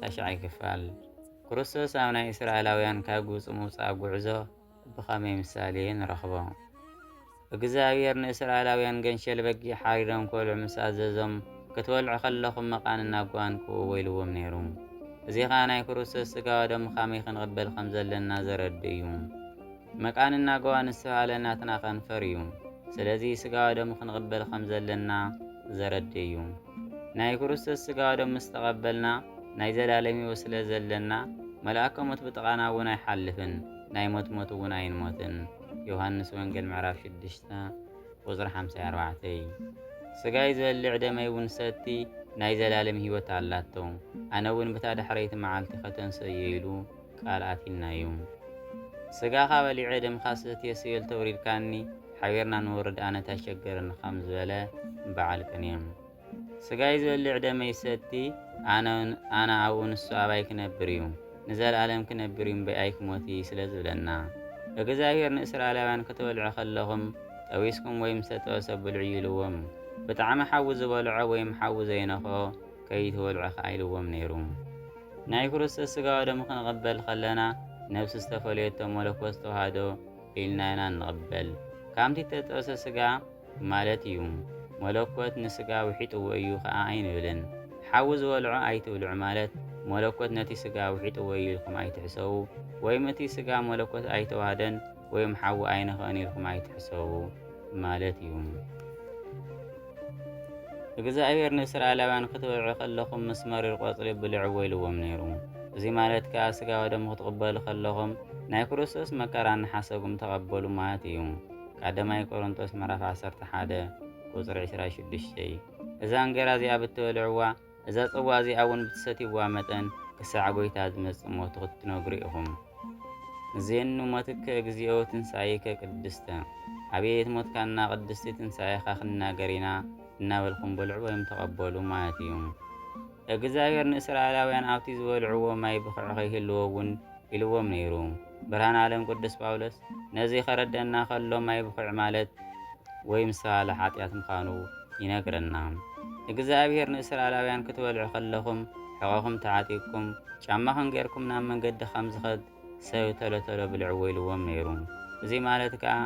ታሽዓይ ክፋል ክርስቶስ ኣብ ናይ እስራኤላውያን ካብ ግብፂ ምውፃእ ጉዕዞ ብኸመይ ምሳሌ ንረኽቦ? እግዚኣብሔር ንእስራኤላውያን ገንሸል በጊዕ ሓሪዶም ክበልዑ ምስ ኣዘዞም ክትበልዑ ከለኹም መቓን እናጓን ክኡ ወይልዎም ነይሩ። እዚ ኸዓ ናይ ክርስቶስ ስጋዋ ደም ኻመይ ክንቕበል ከም ዘለና ዘረድ እዩ። መቃን እናጓዋ ንስተብሃለ ናትና ከንፈር እዩ። ስለዚ ስጋዋ ደም ክንቕበል ከም ዘለና ዘረድ እዩ። ናይ ክርስቶስ ስጋዶ ምስ ተቐበልና ናይ ዘላለም ሕይወት ስለ ዘለና መልኣከ ሞት ብጥቓና እውን ኣይሓልፍን፣ ናይ ሞት ሞት እውን ኣይንሞትን። ዮሃንስ ወንጌል ምዕራፍ 6 ቁጽሪ 54 ስጋይ ዝበልዕ ደመይ እውን ሰቲ ናይ ዘላለም ሕይወት ኣላቶ፣ ኣነ እውን ብታ ዳሕረይቲ መዓልቲ ከተንስእ እዩ ኢሉ ቃል ኣቲናዩ ስጋኻ በሊዐ ደምኻ ሰትየ ስቤል ተውሪድካኒ ሓቢርና ንወርድ ኣነ ታይ ሸገረኒ ከም ዝበለ በዓል ቅኔ ስጋይ ዝበልዕ ደመይ ዝሰቲ ኣነ ኣነ ኣብኡ ንሱ ኣባይ ክነብር እዩ ንዘለኣለም ክነብር እዩ እምበይ ኣይክሞት እይ ስለ ዝብለና እግዝኣብሄር ንእስራኤላውያን ክትበልዑ ከለኹም ጠቢስኩም ወይም ዝተጠበሰ ብልዑ እዩ ኢልዎም ብጣዕሚ ሓዊ ዝበልዖ ወይም ሓዊ ዘይነኽኦ ከይትበልዑ ከኣ ኢልዎም ነይሩ። ናይ ክርስቶስ ሥጋ ወደሙ ክንቕበል ኸለና ነፍሲ ዝተፈለየቶ መለኮት ዝተዋህዶ ኢልና ኢና እንቕበል። ካምቲ እተጠብሰ ሥጋ ማለት እዩ። መለኮት ንሥጋ ውሒጥዎ እዩ ከኣ ኣይንብልን። ሓዊ ዝበልዖ ኣይትብልዑ ማለት መለኮት ነቲ ሥጋ ውሒጥዎ እዩ ኢልኩም ኣይትሕሰቡ ወይም እቲ ሥጋ መለኮት ኣይተዋህደን ወይም ሓዊ ኣይንኸእን ኢልኩም ኣይትሕሰቡ ማለት እዩ። እግዝኣብሄር ንእስራኤላውያን ክትበልዑ ከለኹም ምስ መሪር ቆጽሊ ብልዕዎ ኢልዎም ነይሩ። እዚ ማለት ከኣ ስጋ ወደሙ ክትቕበሉ ከለኹም ናይ ክርስቶስ መከራ እናሓሰብኩም ተቐበሉ ማለት እዩ። ቀዳማይ ቆሮንቶስ ምዕራፍ ዓሰርተ ሓደ ቁጽሪ ዕስራ ሽዱሽተ እዛ እንጌራ እዚኣ ብትበልዕዋ እዛ ጽዋ እዚኣ እውን ብትሰትይዋ መጠን ክሳዕ ጐይታ ዝመጽእ ሞቱ ክትነግሩ ኢኹም። እዜኑ ሞትከ እግዚኦ ትንሣኤከ ቅድስተ፣ ኣቤት ሞትካና ቅድስቲ ትንሣኤኻ ክንናገር ኢና እናበልኩም ብልዑ ወይም ተቐበሉ ማለት እዩ። እግዝኣብሔር ንእስራኤላውያን ኣብቲ ዝበልዕዎ ማይ ብኽዕ ከይህልዎ እውን ኢልዎም ነይሩ። ብርሃነኣለም ቅዱስ ጳውሎስ ነዚ ከረደኣና ከሎ ማይ ብኹዕ ማለት ወይ ምሰባል ሓጢኣት ምዃኑ ይነግረና። እግዝኣብሄር ንእስራኣላውያን ክትበልዑ ከለኹም ሕቖኹም ተዓጢቅኩም ጫማኹም ጌርኩም ናብ መንገዲ ከም ዝኸድ ሰብ ቶሎ ቶሎ ብልዕዎ ኢልዎም ነይሩ። እዚ ማለት ከኣ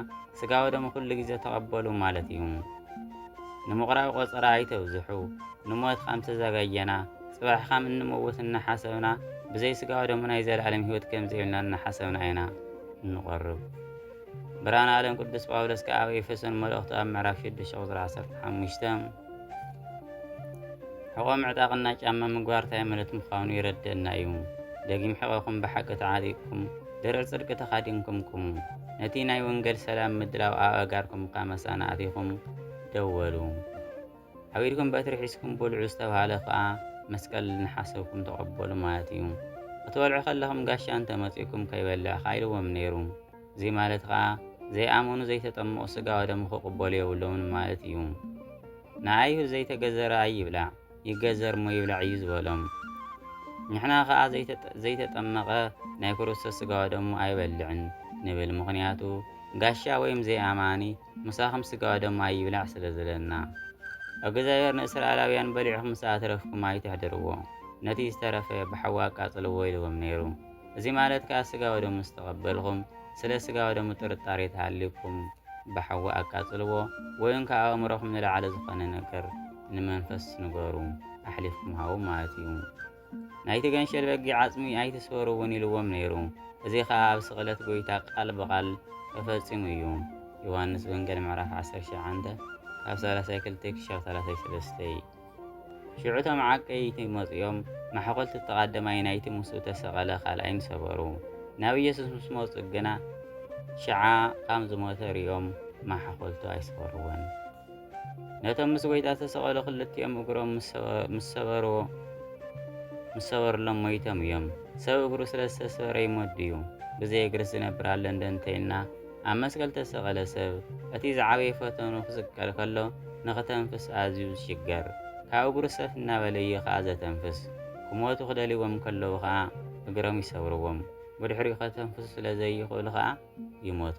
ስጋ ወደሙ ኩሉ ግዜ ተቐበሉ ማለት እዩ። ንምቑራብ ቆጸራ ኣይተብዝሑ ንሞት ከም ተዘጋጀና ጽባሕ ኻም እንመውት እናሓሰብና ብዘይ ስጋዊ ደሙ ናይ ዘለኣለም ህይወት ከም ዘይብልና እናሓሰብና ኢና እንቆርብ። ብርሃን ዓለም ቅዱስ ጳውሎስ ከኣ ኣብ ኤፌሶን መልእኽቱ ኣብ ምዕራፍ 6 ቁጽሪ 15 ሕቖ ምዕጣቕና ጫማ ምግባር እንታይ ማለት ምዃኑ ይረደና እዩ። ደጊም ሕቐኹም ብሓቂ ተዓጢቕኩም ድርዕ ጽድቂ ተኻዲንኩም ቁሙ። ነቲ ናይ ወንጌል ሰላም ምድላው ኣብ ኣእጋርኩም እካ መሳና ኣቲኹም ደወሉ። ኣብ ኢድኩም በትሪ ሒዝኩም ብልዑ ዝተብሃለ ክኣ መስቀል ንሓሰብኩም ተቐበሉ ማለት እዩ። ክትበልዑ ከለኹም ጋሻ እንተ መጺኡኩም ከይበልዕኻ ኢልዎም ነይሩ። እዚ ማለት ኸኣ ዘይኣመኑ ዘይተጠመቑ ስጋ ወደሙ ክቕበሉ የብሎምን ማለት እዩ። ንኣይሁድ ዘይተገዘረ ኣይብላዕ ይገዘር እሞ ይብላዕ እዩ ዝበሎም። ንሕና ኸኣ ዘይተጠመቐ ናይ ክርስቶስ ስጋ ወደሙ ኣይበልዕን ንብል ምኽንያቱ ጋሻ ወይም ዘይኣማኒ ምሳኹም ስጋዋ ደማ ማይ ይብላዕ ስለ ዝለና። እግዛብሄር ንእስራኤላውያን በሊዕኹም ምስ ኣትረፍኩም ኣይተሕድርዎ፣ ነቲ ዝተረፈ ብሓዊ ኣቃጽልዎ ኢልዎም ነይሩ። እዚ ማለት ከኣ ስጋ ወደሙ ምስ ተቐበልኹም፣ ስለ ስጋ ወደሙ ጥርጣሬ ተሃልዩኩም ብሓዊ ኣቃጽልዎ ወይውን ካብ ኣእምሮኹም ንላዕሊ ዝኾነ ነገር ንመንፈስ ንገሩ፣ ኣሕሊፍኩም ሃቡ ማለት እዩ። ናይቲ ገንሸል በጊዕ ዓጽሚ ኣይትስበርዎን ኢልዎም ነይሩ። እዚ ኸኣ ኣብ ስቕለት ጐይታ ቃል ብቓል ተፈጺሙ እዩ። ዮሃንስ ወንገል ምዕራፍ ዓሰርተ ሸውዓንተ ካብ ሰላሳይ ክልተ ክሻብ ሰላሳይ ሰለስተ። ሽዑ እቶም ዓቀይቲ መጽኦም ማሕቆልቲ እቲ ቐደማይ ናይቲ ምስኡ ተሰቐለ ካልኣይን ሰበሩ። ናብ ኢየሱስ ምስ መጹ ግና ሽዓ ኻም ዝሞተ ርእዮም ማሕቆልቱ ኣይሰበርዎን። ነቶም ምስ ጐይታ ዝተሰቐሉ ክልቲኦም እግሮም ምስ ሰበርዎ ምስ ሰበርሎም ሞይቶም እዮም። ሰብ እግሩ ስለ ዝተሰበረ ይሞት ድዩ? ብዘይ እግርስ ዝነብር ኣሎ እንደ እንተይልና ኣብ መስቀል ዝተሰቐለ ሰብ እቲ ዝዓበየ ፈተኑ ክስቀል ከሎ ንክተንፍስ ኣዝዩ ዝሽገር ካብ እግሩ ሰፍ እናበለ እዩ ከኣ ዘተንፍስ። ክሞቱ ክደልይዎም ከለዉ ከኣ እግሮም ይሰብርዎም። ብድሕሪኡ ከተንፍሱ ስለ ዘይኽእሉ ከኣ ይሞቱ።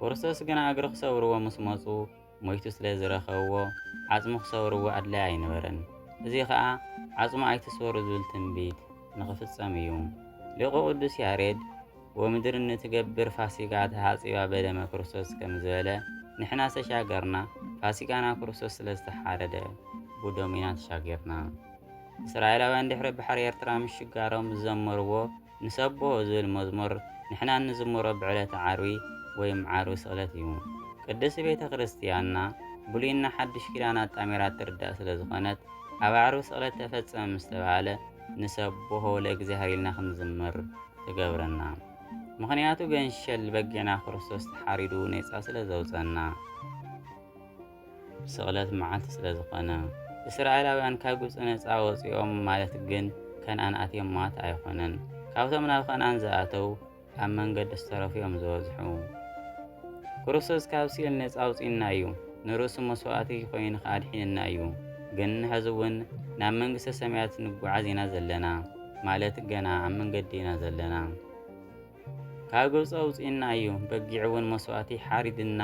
ክርስቶስ ግና እግሪ ክሰብርዎ ምስ መጹ ሞይቱ ስለ ዝረኸብዎ ዓጽሙ ክሰብርዎ ኣድላይ ኣይነበረን። እዚ ኸኣ ዓጽሙ ኣይትስበሩ ዝብል ትንቢት ንኽፍጸም እዩ። ሊቁ ቅዱስ ያሬድ ወምድርኒ ትገብር ፋሲጋ ተሃጺባ በደመ ክርስቶስ ከም ዝበለ ንሕና ዝተሻገርና ፋሲጋና ክርስቶስ ስለ ዝተሓረደ ብደሙ ኢና ተሻጊርና። እስራኤላውያን ድሕሪ ባሕሪ ኤርትራ ምሽጋሮም ዝዘመርዎ ንሰብሖ ዝብል መዝሙር ንሕና እንዝምሮ ብዕለተ ዓርቢ ወይም ዓርቢ ስቕለት እዩ። ቅድስቲ ቤተ ክርስቲያንና ብሉይና ሓዱሽ ኪዳን ኣጣሚራ እትርዳእ ስለ ዝኾነት ኣብ ዓርቢ ስቕለት ተፈጸመ ምስ ተባህለ ንሰብሖ ለእግዚኣብሔር ኢልና ክንዝምር ትገብረና። ምኽንያቱ ገንሸል በጊዕና ክርስቶስ ተሓሪዱ ኔጻ ስለ ዘውጸና። ስቕለት መዓልቲ ስለ ዝኾነ። እስራኤላውያን ካብ ግብጺ ነጻ ወጺኦም ማለት ግን ከንኣን ኣትዮም ማለት ኣይኾነን። ካብቶም ናብ ከንኣን ዝኣተው ኣብ መንገዲ ዝተረፉ እዮም ዝበዝሑ። ክርስቶስ ካብ ሲኦል ነጻ ኣውጺኡና እዩ። ንርእሱ መስዋእቲ ኮይኑ ከኣ ኣድሒኑና እዩ። ግን ሕዚ እውን ናብ መንግስተ ሰማያት ንጓዓዝ ኢና ዘለና ማለት ገና ኣብ መንገዲ ኢና ዘለና። ካብ ግብፂ ኣውፂእና እዩ በጊዕ እውን መስዋእቲ ሓሪድና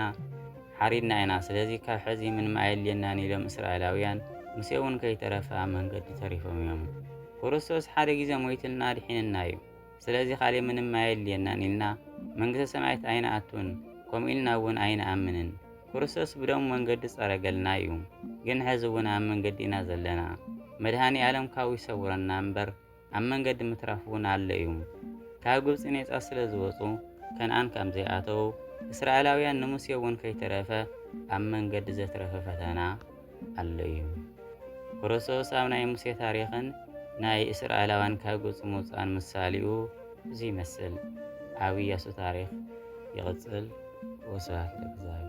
ሓሪድና ኢና ስለዚ ካብ ሕዚ ምንም ኣየድልየናን ኢሎም እስራኤላውያን ሙሴ እውን ከይተረፈ ኣብ መንገዲ ተሪፎም እዮም ክርስቶስ ሓደ ግዜ ሞይትልና ኣድሒንና እዩ ስለዚ ካሊእ ምንም ኣየድልየናን ኢልና መንግስተ ሰማያት ኣይንኣቱን ከምኡ ኢልና እውን ኣይንኣምንን ክርስቶስ ብደሙ መንገዲ ጸረገልና እዩ ግን ሕዚ እውን ኣብ መንገዲ ኢና ዘለና መድሃኒ ኣለም ካብኡ ይሰውረና እምበር ኣብ መንገዲ ምትራፍ እውን ኣሎ እዩ። ካብ ግብጺ ኔጻ ስለ ዝወጹ ከንኣን ከም ዘይኣተዉ እስራኤላውያን ንሙሴ እውን ከይተረፈ ኣብ መንገዲ ዘትረፈ ፈተና ኣሎ እዩ። ክርስቶስ ኣብ ናይ ሙሴ ታሪኽን ናይ እስራኤላውያን ካብ ግብጺ ምውጻእን ምሳሌኡ እዚ ይመስል። ኣብ ኢያሱ ታሪኽ ይቕጽል። ወስብሐት ለእግዚኣብሔር።